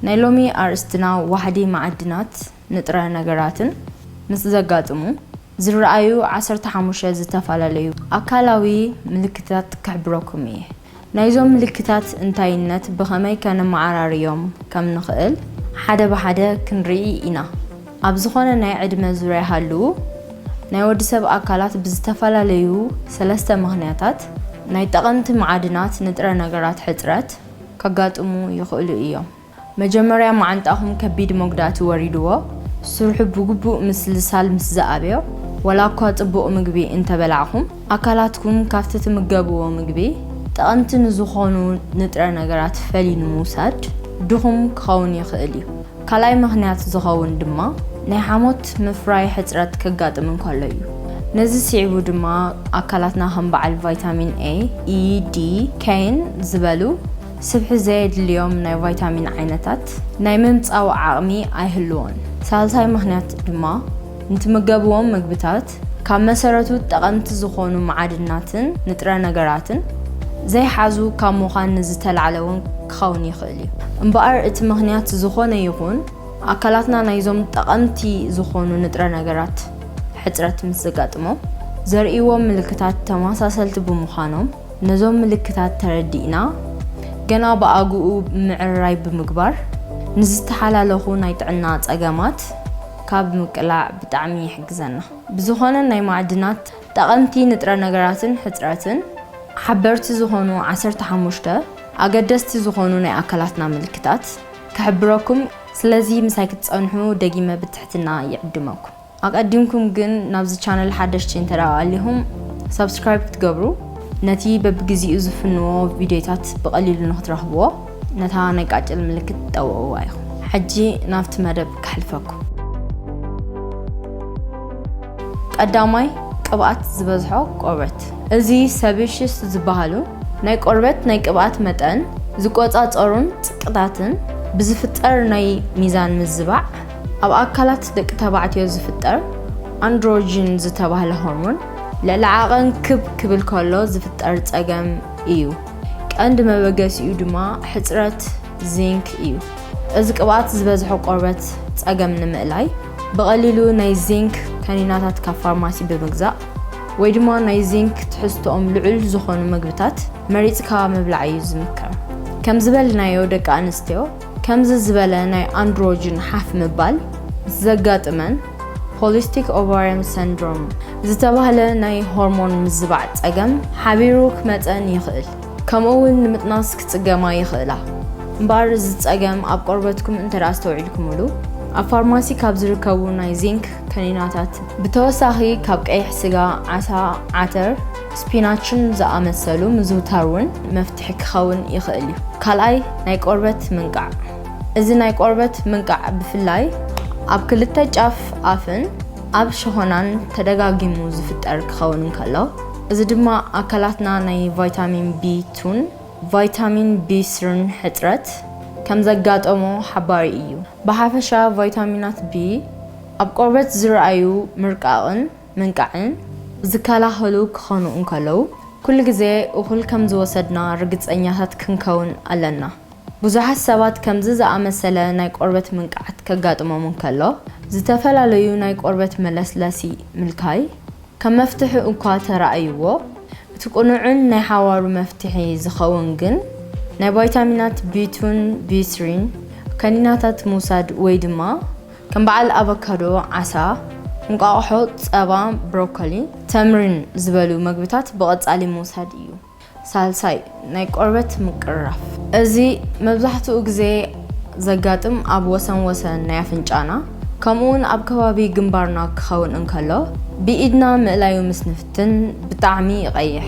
ናይ ሎሚ ኣርእስትና ዋሕዲ መዓድናት ንጥረ ነገራትን ምስ ዘጋጥሙ ዝረኣዩ ዓሰርተ ሓሙሽተ ዝተፈላለዩ ኣካላዊ ምልክታት ክሕብረኩም እየ። ናይዞም ምልክታት እንታይነት ብኸመይ ከነመዓራርዮም ከም ንኽእል ሓደ ብሓደ ክንርኢ ኢና። ኣብ ዝኾነ ናይ ዕድመ ዙርያ ሃልዉ ናይ ወዲ ሰብ ኣካላት ብዝተፈላለዩ ሰለስተ ምኽንያታት ናይ ጠቐምቲ መዓድናት ንጥረ ነገራት ሕጽረት፣ ከጋጥሙ ይኽእሉ እዮም። መጀመርያ መዓንጣኹም ከቢድ መጉዳእቲ ወሪድዎ ስርሑ ብግቡእ ምስልሳል ምስ ዝኣብዮ፣ ዋላኳ ጽቡቕ ምግቢ እንተበላዕኹም፣ ኣካላትኩም ካብቲ ትምገብዎ ምግቢ ጠቐምቲ ንዝኾኑ ንጥረ ነገራት ፈልዩ ንምውሳድ ድኹም ክኸውን ይኽእል እዩ። ካልኣይ ምኽንያት ዝኸውን ድማ ናይ ሓሞት ምፍራይ ሕጽረት ከጋጥም እንከሎ እዩ። ነዚ ስዒቡ ድማ ኣካላትና ከም በዓል ቫይታሚን ኤ፣ ኢ፣ ዲ፣ ከይን ዝበሉ ስብሒ ዘየድልዮም ናይ ቫይታሚን ዓይነታት ናይ ምምጻው ዓቕሚ ኣይህልዎን። ሳልሳይ ምኽንያት ድማ ንትምገብዎም ምግብታት ካብ መሰረቱ ጠቐምቲ ዝኾኑ መዓድናትን ንጥረ ነገራትን ዘይሓዙ ካብ ምዃን ንዝተላዕለ እውን ክኸውን ይኽእል እዩ። እምበኣር እቲ ምኽንያት ዝኾነ ይኹን ኣካላትና ናይዞም ጠቐምቲ ዝኾኑ ንጥረ ነገራት ሕፅረት ምስ ዘጋጥሞም ዘርእይዎም ምልክታት ተመሳሰልቲ ብምዃኖም ነዞም ምልክታት ተረዲእና ገና ብኣግኡ ምዕርራይ ብምግባር ንዝተሓላለኹ ናይ ጥዕና ፀገማት ካብ ምቅላዕ ብጣዕሚ ይሕግዘና። ብዝኾነ ናይ ማዕድናት ጠቐምቲ ንጥረ ነገራትን ሕጽረትን ሓበርቲ ዝኾኑ ዓሰርተ ሓሙሽተ ኣገደስቲ ዝኾኑ ናይ ኣካላትና ምልክታት ክሕብረኩም ስለዚ ምሳይ ክትጸንሑ ደጊመ ብትሕትና ይዕድመኩም ኣቀዲምኩም ግን ናብዚ ቻነል ሓደሽቲ እንተ ኣሊኹም ሳብስክራይብ ክትገብሩ ነቲ በብግዚኡ ዝፍንዎ ቪድዮታት ብቀሊሉ ንክትረኽብዎ ነታ ናይ ቃጭል ምልክት ጠውዕዋ ኢኹም። ሕጂ ናብቲ መደብ ከሕልፈኩም። ቀዳማይ፣ ቅብኣት ዝበዝሖ ቆርበት። እዚ ሰቢሽስ ዝበሃሉ ናይ ቆርበት ናይ ቅብኣት መጠን ዝቆጻጸሩን ጽቅታትን ብዝፍጠር ናይ ሚዛን ምዝባዕ ኣብ ኣካላት ደቂ ተባዕትዮ ዝፍጠር ኣንድሮጅን ዝተባህለ ሆርሞን ልዕሊ ዓቐን ክብ ክብል ከሎ ዝፍጠር ጸገም እዩ። ቀንዲ መበገሲኡ ድማ ሕጽረት ዚንክ እዩ። እዚ ቅብኣት ዝበዝሖ ቆርበት ጸገም ንምእላይ ብቐሊሉ ናይ ዚንክ ከኒናታት ካብ ፋርማሲ ብምግዛእ ወይ ድማ ናይ ዚንክ ትሕዝቶኦም ልዑል ዝኾኑ መግብታት መሪጽካ ምብላዕ እዩ ዝምከር። ከም ዝበልናዮ ደቂ ኣንስትዮ ከምዚ ዝበለ ናይ ኣንድሮጅን ሓፍ ምባል ዘጋጥመን ፖሊስቲክ ኦቫርየም ሰንድሮም ዝተባህለ ናይ ሆርሞን ምዝባዕ ጸገም ሓቢሩ ክመጸን ይኽእል ከምኡ ውን ንምጥናስ ክጽገማ ይኽእላ እምበኣር እዚ ጸገም ኣብ ቆርበትኩም እንተ ኣስተውዒልኩምሉ ኣብ ፋርማሲ ካብ ዝርከቡ ናይ ዚንክ ከኒናታት ብተወሳኺ ካብ ቀይሕ ስጋ፣ ዓሳ፣ ዓተር፣ ስፒናችን ዝኣመሰሉ ምዝውታር እውን መፍትሒ ክኸውን ይኽእል እዩ። ካልኣይ፣ ናይ ቆርበት ምንቃዕ። እዚ ናይ ቆርበት ምንቃዕ ብፍላይ ኣብ ክልተ ጫፍ ኣፍን ኣብ ሸኾናን ተደጋጊሙ ዝፍጠር ክኸውን እንከሎ፣ እዚ ድማ ኣካላትና ናይ ቫይታሚን ቢ ቱን ቫይታሚን ቢ ስርን ሕጽረት ከም ዘጋጠሞ ሓባሪ እዩ። ብሓፈሻ ቫይታሚናት ቢ ኣብ ቆርበት ዝርኣዩ ምርቃቕን ምንቃዕን ዝከላኸሉ ክኾኑ እንከለዉ፣ ኩሉ ግዜ እኹል ከም ዝወሰድና ርግጸኛታት ክንከውን ኣለና። ብዙሓት ሰባት ከምዚ ዝኣመሰለ ናይ ቆርበት ምንቃዕት ከጋጥሞም እንከሎ፣ ዝተፈላለዩ ናይ ቆርበት መለስለሲ ምልካይ ከም መፍትሒ እኳ ተራእይዎ፣ እቲ ቅኑዕን ናይ ሓዋሩ መፍትሒ ዝኸውን ግን ናይ ቫይታሚናት ቢ-ቱን ቢ-ስሪን ከኒናታት ምውሳድ ወይ ድማ ከም በዓል ኣቮካዶ፣ ዓሳ፣ እንቋቑሖ፣ ጸባ፣ ብሮኮሊ፣ ተምሪን ዝበሉ መግብታት ብቐጻሊ ምውሳድ እዩ። ሳልሳይ፣ ናይ ቆርበት ምቅርራፍ። እዚ መብዛሕትኡ ግዜ ዘጋጥም ኣብ ወሰን ወሰን ናይ ኣፍንጫና ከምኡ'ውን ኣብ ከባቢ ግንባርና ክኸውን እንከሎ፣ ብኢድና ምእላዩ ምስ ንፍትን ብጣዕሚ ይቐይሕ።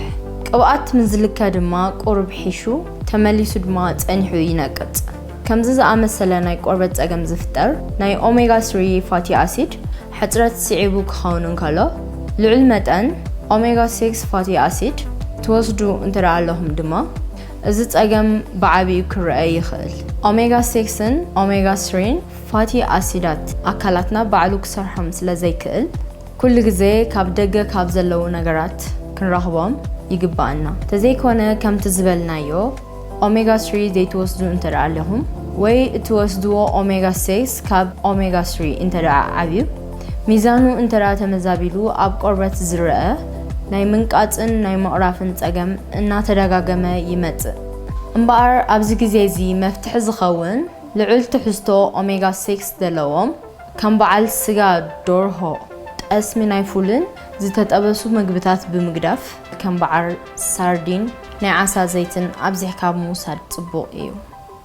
ቅብኣት ምስ ዝልከ ድማ ቁሩብ ሒሹ ተመሊሱ ድማ ጸኒሑ ይነቅጽ። ከምዚ ዝኣመሰለ ናይ ቆርበት ጸገም ዝፍጠር ናይ ኦሜጋ ስሪ ፋቲ ኣሲድ ሕጽረት ስዒቡ ክኸውን እንከሎ፣ ልዑል መጠን ኦሜጋ ሲክስ ፋቲ ኣሲድ ትወስዱ እንተድኣ ኣለኹም ድማ እዚ ጸገም ብዓቢኡ ክርኣ ይኽእል። ኦሜጋ ሲክስን ኦሜጋ ስሪን ፋቲ ኣሲዳት ኣካላትና ባዕሉ ክሰርሖም ስለ ዘይክእል፣ ኩሉ ግዜ ካብ ደገ ካብ ዘለዉ ነገራት ክንረኽቦም ይግብኣና። ተዘይኮነ ከምቲ ዝበልናዮ፣ ኦሜጋ ስሪ ዘይትወስዱ እንተደኣ ኣለኹም ወይ እትወስድዎ ኦሜጋ ሴክስ ካብ ኦሜጋ ስሪ እንተደኣ ዓብዩ ሚዛኑ እንተደኣ ተመዛቢሉ ኣብ ቆርበት ዝረኣ ናይ ምንቃጽን ናይ ምቕራፍን ጸገም እናተደጋገመ ይመጽእ። እምበኣር ኣብዚ ግዜ እዚ መፍትሒ ዝኸውን ልዑል ትሕዝቶ ኦሜጋ ሴክስ ዘለዎም ከም በዓል ስጋ ዶርሆ፣ ጠስሚ ናይ ፉልን ዝተጠበሱ ምግብታት ብምግዳፍ ከም በዓል ሳርዲን፣ ናይ ዓሳ ዘይትን ኣብዚሕካ ኣብ ምውሳድ ጽቡቕ እዩ።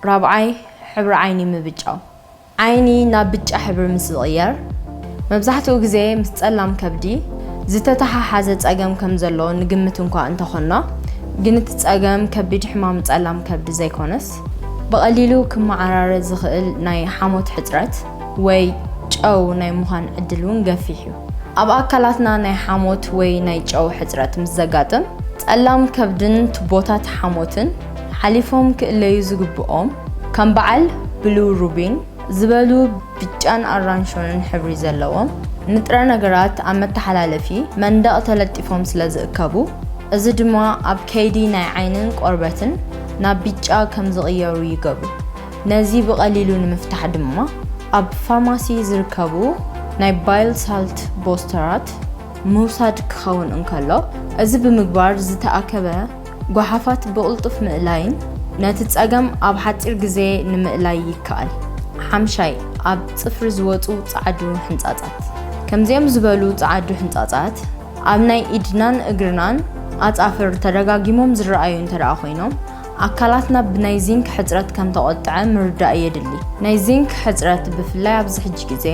ራብዓይ፣ ሕብሪ ዓይኒ ምብጫው። ዓይኒ ናብ ብጫ ሕብሪ ምስ ዝቕየር፣ መብዛሕትኡ ግዜ ምስ ጸላም ከብዲ ዝተተሓሓዘ ጸገም ከም ዘሎ ንግምት እንኳ እንተ ኾንና፣ ግን እቲ ጸገም ከቢድ ሕማም ጸላም ከብዲ ዘይኮነስ፣ ብቐሊሉ ክመዓራረ ዝኽእል ናይ ሓሞት ሕጽረት፣ ወይ ጨው ናይ ምዃን ዕድል እውን ገፊሕ እዩ። ኣብ ኣካላትና ናይ ሓሞት ወይ ናይ ጨው ሕጽረት ምስ ዘጋጥም፣ ጸላም ከብድን ቱቦታት ሓሞትን ሓሊፎም ክእለዩ ዝግብኦም፣ ከም በዓል ብሉሩቢን ዝበሉ ብጫን ኣራንሾንን ሕብሪ ዘለዎም ንጥረ ነገራት ኣብ መተሓላለፊ መንደቕ ተለጢፎም ስለ ዝእከቡ፣ እዚ ድማ ኣብ ከይዲ ናይ ዓይንን ቆርበትን ናብ ቢጫ ከም ዝቕየሩ ይገብሩ። ነዚ ብቐሊሉ ንምፍታሕ ድማ ኣብ ፋርማሲ ዝርከቡ ናይ ባይል ሳልት ቦስተራት ምውሳድ ክኸውን እንከሎ፣ እዚ ብምግባር ዝተኣከበ ጓሓፋት ብቕልጡፍ ምእላይን ነቲ ጸገም ኣብ ሓጺር ግዜ ንምእላይ ይከኣል። ሓምሻይ፣ ኣብ ጽፍሪ ዝወጹ ጸዓዱ ሕንጻጻት። ከምዚኦም ዝበሉ ጸዓዱ ሕንጻጻት ኣብ ናይ ኢድናን እግርናን ኣጻፍር ተደጋጊሞም ዝረኣዩ እንተደኣ ኮይኖም፣ ኣካላትና ብናይ ዚንክ ሕጽረት ከም ተቖጥዐ ምርዳእ የድሊ። ናይ ዚንክ ሕጽረት ብፍላይ ኣብዚ ሕጂ ግዜ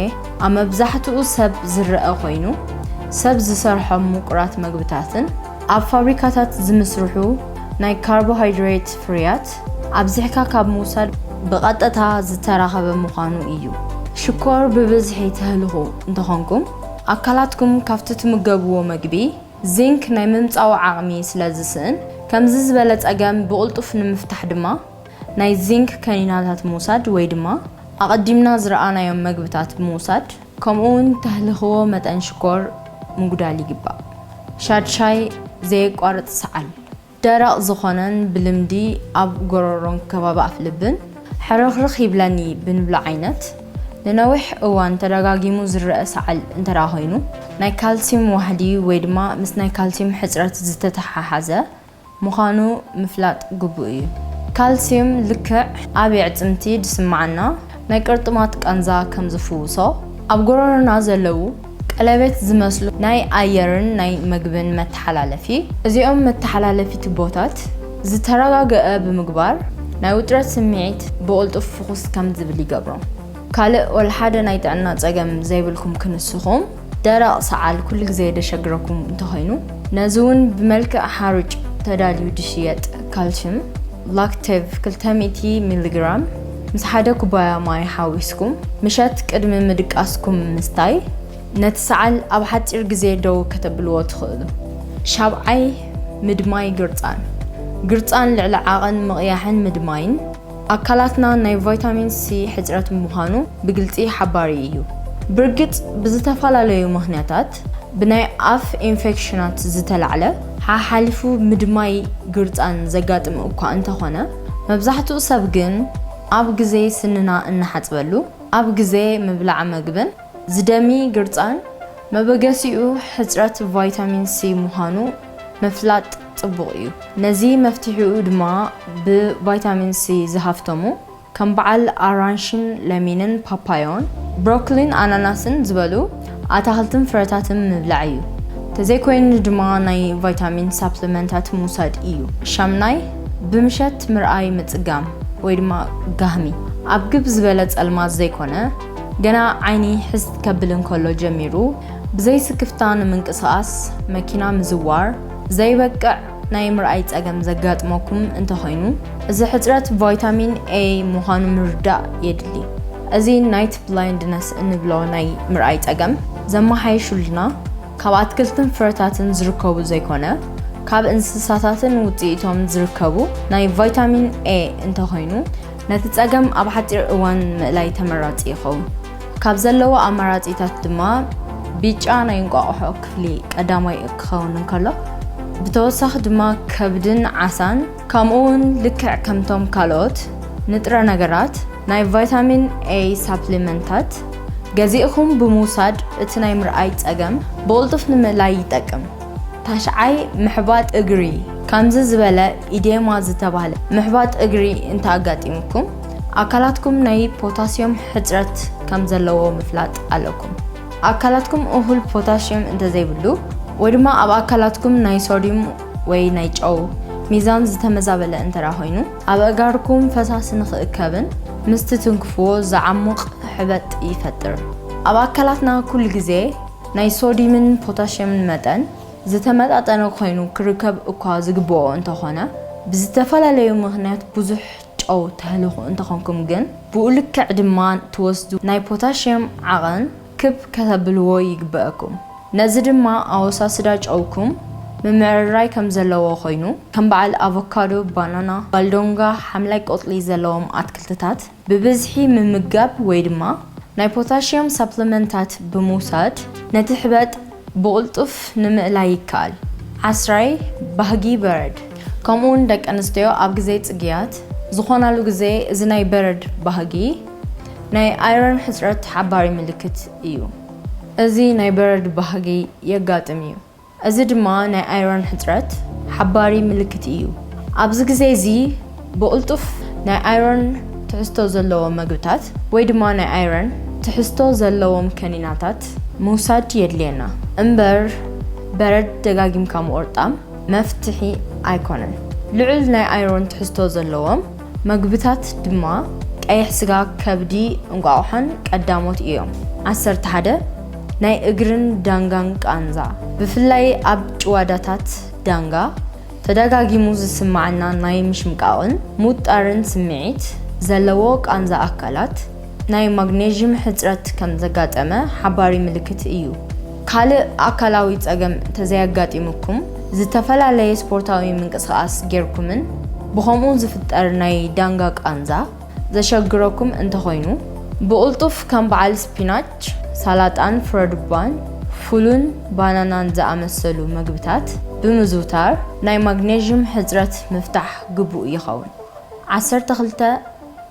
ኣብ መብዛሕትኡ ሰብ ዝረኣ ኮይኑ፣ ሰብ ዝሰርሖም ምቁራት መግብታትን፣ ኣብ ፋብሪካታት ዝምስርሑ ናይ ካርቦሃይድሬት ፍርያት ኣብዚሕካ ካብ ምውሳድ ብቐጥታ ዝተራኸበ ምዃኑ እዩ። ሽኮር ብብዝሒ ተህልኹ እንተኾንኩም፣ ኣካላትኩም ካብቲ ትምገብዎ መግቢ፣ ዚንክ ናይ ምምጻኡ ዓቕሚ ስለ ዝስእን፣ ከምዚ ዝበለ ጸገም ብቕልጡፍ ንምፍታሕ ድማ ናይ ዚንክ ከኒናታት ምውሳድ ወይ ድማ ኣቐዲምና ዝረኣናዮም መግብታት ብምውሳድ፣ ከምኡ'ውን ተህልኽዎ መጠን ሽኮር ምጉዳል ይግባእ። ሻድሻይ፣ ዘየቋርጽ ሰዓል። ደረቕ ዝኾነን ብልምዲ ኣብ ጎሮሮን ከባቢ ኣፍልብን ሕርኽርኽ ይብለኒ ብንብሎ ዓይነት ንነዊሕ እዋን ተደጋጊሙ ዝረኣ ሰዓል እንተደኣ ኮይኑ ናይ ካልሲዩም ዋህዲ ወይ ድማ ምስ ናይ ካልሲዩም ሕጽረት ዝተተሓሓዘ ምዃኑ ምፍላጥ ግቡእ እዩ። ካልሲዩም ልክዕ ኣብ የዕጽምቲ ዝስመዓና ናይ ቅርጥማት ቃንዛ ከም ዝፍውሶ ኣብ ጎሮሮና ዘለዉ ቀለበት ዝመስሉ ናይ ኣየርን ናይ መግብን መተሓላለፊ፣ እዚኦም መተሓላለፊ ቱቦታት ዝተረጋገኣ ብምግባር ናይ ውጥረት ስምዒት ብቕልጡፍ ፍኹስ ከም ዝብል ይገብሮ። ካልእ ወልሓደ ናይ ጥዕና ጸገም ዘይብልኩም ክንስኹም፣ ደረቕ ሰዓል ኩሉ ግዜ ደሸግረኩም እንተኾይኑ፣ ነዚ እውን ብመልክዕ ሓሩጭ ተዳልዩ ድሽየጥ ካልሽም ላክቴቭ ክልተ ሚእቲ ሚሊግራም፣ ምስ ሓደ ኩባያ ማይ ሓዊስኩም ምሸት ቅድሚ ምድቃስኩም ምስታይ ነቲ ሰዓል ኣብ ሓጺር ግዜ ደው ከተብልዎ ትኽእሉ። ሻብዓይ፣ ምድማይ ግርጻን። ግርጻን ልዕሊ ዓቐን ምቕያሕን ምድማይን፣ ኣካላትና ናይ ቫይታሚን ሲ ሕጽረት ምዃኑ ብግልጺ ሓባሪ እዩ። ብርግጽ ብዝተፈላለዩ ምኽንያታት ብናይ ኣፍ ኢንፌክሽናት ዝተላዕለ ሓሓሊፉ ምድማይ ግርጻን ዘጋጥም እኳ እንተኾነ፣ መብዛሕትኡ ሰብ ግን ኣብ ግዜ ስንና እንሓጽበሉ፣ ኣብ ግዜ ምብላዕ መግብን ዝደሚ ግርጻን መበገሲኡ ሕጽረት ቫይታሚን ሲ ምዃኑ ምፍላጥ ጽቡቕ እዩ። ነዚ መፍትሒኡ ድማ ብቫይታሚን ሲ ዝሃፍተሙ ከም በዓል ኣራንሺን ለሚንን ፓፓዮን ብሮኮሊን ኣናናስን ዝበሉ፣ ኣታኽልትን ፍረታትን ምብላዕ እዩ። ተዘይኮይኑ ድማ ናይ ቫይታሚን ሳፕለመንታት ምውሳድ እዩ። ሻምናይ፣ ብምሸት ምርኣይ ምጽጋም ወይ ድማ ጋህሚ። ኣብ ግብ ዝበለ ጸልማት ዘይኮነ፣ ገና ዓይኒ ሕዝት ከብል እንከሎ ጀሚሩ ብዘይስክፍታ ንምንቅስቓስ፣ መኪና ምዝዋር፣ ዘይበቅዕ፣ ናይ ምርኣይ ጸገም ዘጋጥመኩም እንተኾይኑ፣ እዚ ሕጽረት ቫይታሚን A ምዃኑ ምርዳእ የድሊ። እዚ ናይት ብላይንድነስ እንብሎ ናይ ምርኣይ ጸገም ዘመሓይሹልና ካብ ኣትክልትን ፍረታትን ዝርከቡ ዘይኮነ፣ ካብ እንስሳታትን ውጽኢቶም ዝርከቡ ናይ ቫይታሚን A እንተኾይኑ፣ ነቲ ጸገም ኣብ ሓጺር እዋን ምእላይ ተመራጺ ይኸውን። ካብ ዘለዎ ኣማራጺታት ድማ ቢጫ ናይ እንቋቑሖ ክፍሊ ቀዳማይ ክኸውን እንከሎ ብተወሳኺ ድማ ከብድን ዓሳን ከምኡ እውን ልክዕ ከምቶም ካልኦት ንጥረ ነገራት ናይ ቫይታሚን A ሳፕሊመንታት ገዚእኹም ብምውሳድ እቲ ናይ ምርኣይ ጸገም ብቕልጡፍ ንምእላይ ይጠቅም። ታሽዓይ፣ ምሕባጥ እግሪ፣ ከምዚ ዝበለ ኢዴማ ዝተባህለ ምሕባጥ እግሪ እንተኣጋጢሙኩም፣ ኣካላትኩም ናይ ፖታስዮም ሕጽረት ከም ዘለዎ ምፍላጥ ኣለኩም። ኣካላትኩም እኹል ፖታስዮም እንተዘይብሉ ወይ ድማ ኣብ ኣካላትኩም ናይ ሶድዩም ወይ ናይ ጨው ሚዛን ዝተመዛበለ እንተራ ኮይኑ ኣበእጋርኩም ፈሳሲ ንክእከብን ምስ ትትንክፍዎ ዝዓሙቕ ሕበጥ ይፈጥር። ኣብ ኣካላትና ኩሉ ግዜ ናይ ሶድዩምን ፖታሽየምን መጠን ዝተመጣጠነ ኮይኑ ክርከብ እኳ ዝግብኦ እንተኾነ ብዝተፈላለዩ ምኽንያት ብዙሕ ጨው ተህልኹ እንተኾንኩም ግን ብኡ ልክዕ ድማ ትወስዱ ናይ ፖታሽየም ዓቐን ክብ ከተብልዎ ይግበእኩም። ነዚ ድማ ኣወሳስዳ ጨውኩም ምምዕርራይ ከም ዘለዎ ኮይኑ ከም በዓል ኣቮካዶ፣ ባናና፣ ባልዶንጋ፣ ሓምላይ ቆጽሊ ዘለዎም ኣትክልትታት ብብዝሒ ምምጋብ ወይ ድማ ናይ ፖታሽየም ሳፕለመንታት ብምውሳድ ነቲ ሕበጥ ብቕልጡፍ ንምእላይ ይከኣል። ዓስራይ፣ ባህጊ በረድ ከምኡ'ውን ደቂ ኣንስትዮ ኣብ ግዜ ጽግያት ዝኾናሉ ግዜ እዚ ናይ በረድ ባህጊ ናይ ኣይረን ሕጽረት ሓባሪ ምልክት እዩ። እዚ ናይ በረድ ባህጊ የጋጥም እዩ። እዚ ድማ ናይ ኣይረን ሕጽረት ሓባሪ ምልክት እዩ። ኣብዚ ግዜ እዚ ብቕልጡፍ ናይ ኣይረን ትሕዝቶ ዘለዎም መግብታት ወይ ድማ ናይ ኣይረን ትሕዝቶ ዘለዎም ከኒናታት ምውሳድ የድልየና እምበር በረድ ደጋጊምካ ምቑርጣም መፍትሒ ኣይኮነን። ልዑል ናይ ኣይረን ትሕዝቶ ዘለዎም መግብታት ድማ ቀይሕ ስጋ፣ ከብዲ፣ እንቋቑሖን ቀዳሞት እዮም። ዓሰርተ ሓደ ናይ እግርን ዳንጋን ቃንዛ ብፍላይ ኣብ ጭዋዳታት ዳንጋ፣ ተደጋጊሙ ዝስመዓና ናይ ምሽምቃቕን ምውጣርን ስምዒት ዘለዎ ቃንዛ ኣካላት፣ ናይ ማግኔዥም ሕጽረት ከም ዘጋጠመ ሓባሪ ምልክት እዩ። ካልእ ኣካላዊ ጸገም እንተዘየጋጢሙኩም፣ ዝተፈላለየ ስፖርታዊ ምንቅስቓስ ጌርኩምን ብኸምኡ ዝፍጠር ናይ ዳንጋ ቃንዛ ዘሸግረኩም እንተኾይኑ፣ ብቕልጡፍ ከም በዓል ስፒናች፣ ሳላጣን ፍረዱባን ፉልን ባናናን ዝኣመሰሉ መግብታት ብምዝውታር ናይ ማግኔዥም ሕጽረት ምፍታሕ ግቡእ ይኸውን። ዓሰርተ ክልተ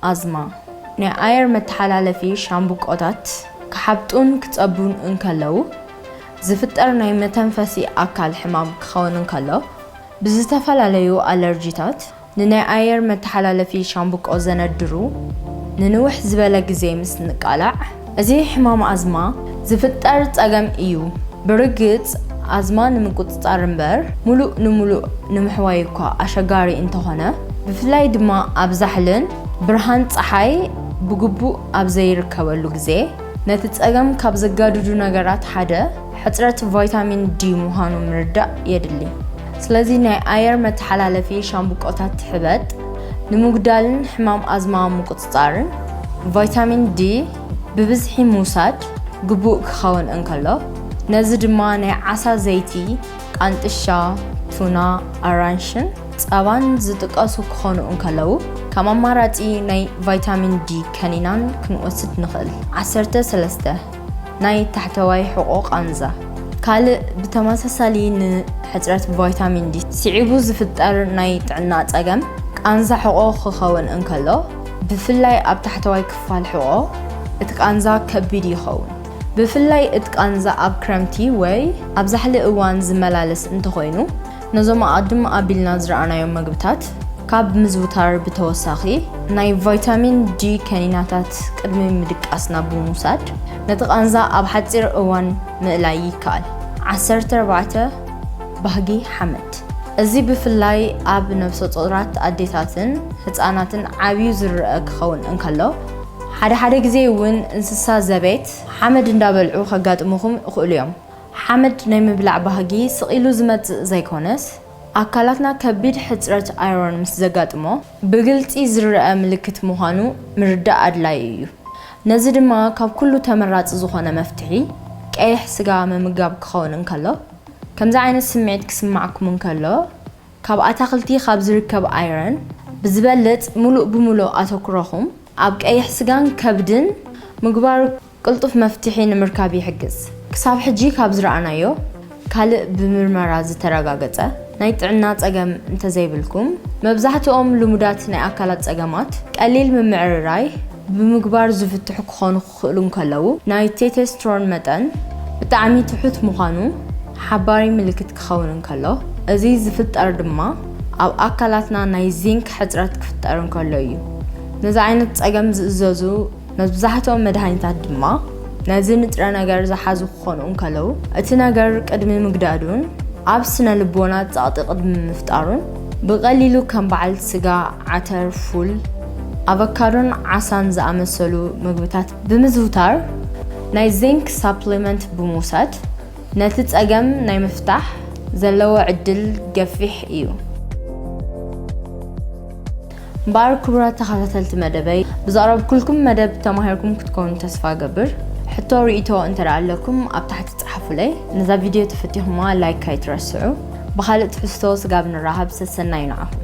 ኣዝማ፣ ናይ ኣየር መተሓላለፊ ሻምብቆታት ክሓብጡን ክጸቡን እንከለዉ ዝፍጠር ናይ መተንፈሲ ኣካል ሕማም ክኸውን እንከሎ ብዝተፈላለዩ ኣለርጂታት፣ ንናይ ኣየር መተሓላለፊ ሻምብቆ ዘነድሩ ንንውሕ ዝበለ ግዜ ምስ እንቃላዕ፣ እዚ ሕማም ኣዝማ ዝፍጠር ጸገም እዩ። ብርግጽ ኣዝማ ንምቁጽጻር እምበር ምሉእ ንምሉእ ንምሕዋይ እኳ ኣሸጋሪ እንተኾነ፣ ብፍላይ ድማ ኣብ ዛሕልን ብርሃን ጸሓይ ብግቡእ ኣብ ዘይርከበሉ ግዜ፣ ነቲ ጸገም ካብ ዘጋድዱ ነገራት ሓደ፣ ሕፅረት ቫይታሚን ዲ ምዃኑ ምርዳእ የድሊ። ስለዚ ናይ ኣየር መተሓላለፊ ሻምብቆታት ሕበጥ ንምጉዳልን ሕማም ኣዝማ ምቁፅፃርን ቫይታሚን ዲ ብብዝሒ ምውሳድ ግቡእ ክኸውን እንከሎ ነዚ ድማ ናይ ዓሳ ዘይቲ፣ ቃንጥሻ፣ ቱና፣ ኣራንሽን ፀባን ዝጥቀሱ ክኾኑ እንከለው ከም ኣማራፂ ናይ ቫይታሚን ዲ ከኒናን ክንወስድ ንኽእል። ዓሰርተ ሰለስተ። ናይ ታሕተዋይ ሕቖ ቃንዛ። ካልእ ብተመሳሳሊ ንሕጽረት ቫይታሚን ዲ ስዒቡ ዝፍጠር ናይ ጥዕና ጸገም ቃንዛ ሕቖ ክኸውን እንከሎ፣ ብፍላይ ኣብ ታሕተዋይ ክፋል ሕቖ እቲ ቃንዛ ከቢድ ይኸውን። ብፍላይ እቲ ቃንዛ ኣብ ክረምቲ ወይ ኣብ ዛሕሊ እዋን ዝመላለስ እንተኾይኑ፣ ነዞም ኣቐድም ኣቢልና ዝረኣናዮም መግብታት ካብ ምዝውታር ብተወሳኺ ናይ ቫይታሚን ዲ ከኒናታት ቅድሚ ምድቃስና ብምውሳድ ነቲ ቃንዛ ኣብ ሓጺር እዋን ምእላይ ይከኣል። ዓሰርተ ኣርባዕተ፣ ባህጊ ሓመድ። እዚ ብፍላይ ኣብ ነብሰጾራት ኣዴታትን ህጻናትን ዓብዩ ዝርኣ ክኸውን እንከሎ፣ ሓደ ሓደ ግዜ እውን እንስሳ ዘቤት ሓመድ እንዳበልዑ ከጋጥሙኹም ይኽእሉ እዮም። ሓመድ ናይ ምብላዕ ባህጊ ስቕ ኢሉ ዝመጽእ ዘይኮነስ፣ ኣካላትና ከቢድ ሕጽረት ኣይሮን ምስ ዘጋጥሞ ብግልጺ ዝርኣ ምልክት ምዃኑ ምርዳእ ኣድላዪ እዩ። ነዚ ድማ ካብ ኩሉ ተመራጺ ዝኾነ መፍትሒ ቀይሕ ስጋ ምምጋብ ክኸውን እንከሎ፣ ከምዚ ዓይነት ስምዒት ክስማዕኩም እንከሎ ካብ ኣታኽልቲ ካብ ዝርከብ ኣይረን ብዝበልጽ ምሉእ ብምሉእ ኣተኩሮኹም ኣብ ቀይሕ ስጋን ከብድን ምግባር ቅልጡፍ መፍትሒ ንምርካብ ይሕግዝ። ክሳብ ሕጂ ካብ ዝረኣናዮ ካልእ ብምርመራ ዝተረጋገጸ ናይ ጥዕና ጸገም እንተዘይብልኩም፣ መብዛሕትኦም ልሙዳት ናይ ኣካላት ጸገማት ቀሊል ምምዕርራይ ብምግባር ዝፍትሑ ክኾኑ ክኽእሉ እንከለዉ፣ ናይ ቴቴስትሮን መጠን ብጣዕሚ ትሑት ምዃኑ ሓባሪ ምልክት ክኸውን እንከሎ፣ እዚ ዝፍጠር ድማ ኣብ ኣካላትና ናይ ዚንክ ሕጽረት ክፍጠር እንከሎ እዩ። ነዚ ዓይነት ጸገም ዝእዘዙ መብዛሕትኦም መድሃኒታት ድማ ነዚ ንጥረ ነገር ዝሓዙ ክኾኑ እንከለዉ፣ እቲ ነገር ቅድሚ ምግዳዱን ኣብ ስነ ልቦና ጸቕጢ ቅድሚ ምፍጣሩን ብቐሊሉ ከም በዓል ስጋ፣ ዓተር፣ ፉል፣ ኣቨካዶን ዓሳን ዝኣመሰሉ መግብታት ብምዝውታር ናይ ዚንክ ሳፕሊመንት ብምውሳድ ነቲ ጸገም ናይ ምፍታሕ ዘለዎ ዕድል ገፊሕ እዩ። እምበኣር ክቡራት ተኸታተልቲ መደበይ ብዘቕረብኩልኩም መደብ ተማሂርኩም ክትኮኑ ተስፋ እገብር። ሕቶ ርእይቶ እንተ ኣለኩም ኣብ ታሕቲ ጸሓፉለይ። ነዛ ቪድዮ ተፈቲኹማ ላይክ ኣይትረስዑ። ብኻልእ ትሕዝቶ ስጋብ ንራሃብ ሰሰናዩ ንዓኹም።